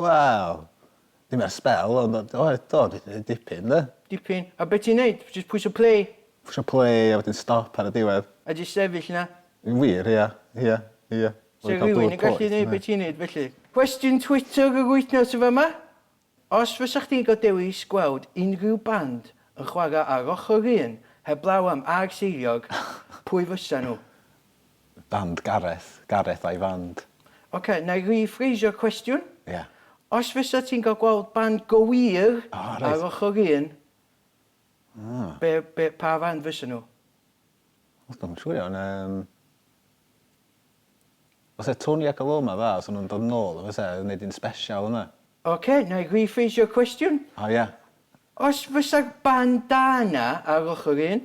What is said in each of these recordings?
Wel, ddim ers sbel, ond o- oedd, do, dwi 'di neud dipyn, do. Dipyn? A be' ti'n neud? Jyst pwyso play? Pwsio play a wedyn stop ar y diwedd. A jyst sefyll 'na? Yn wir, ia, ia, ia. Sa rhywun yn gallu neud be' ti'n neud felly? Cwestiwn Twitter yr wythnos yn fama. Os fysa chdi'n cael dewis gweld unrhyw band yn chwarae ar ochr yr un heblaw am Arseiliog, pwy fysa nhw? Band Gareth, Gareth a'i fand. Ok, na i rî-ffreisio'r cwestiwn. Ia. Os fysa ti'n cael gweld band go wir ar ochr un, be, be, pa fand fysa nhw? Wel, dwi'm yn siŵr iawn, yym... Fysa Tony ac Aloma dda, os o'n nhw'n dod nôl, fysa, yn neud un sbesial yna. Ok, na i rî-ffreisio'r cwestiwn. O ia. Os fysa'r band da yna ar ochr un,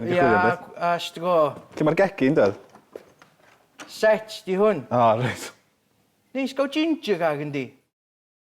Ia, as to go. Lle mae'r gegin, Dad? Set 'di hwn. O reit. Neis gael ginger gag yndi?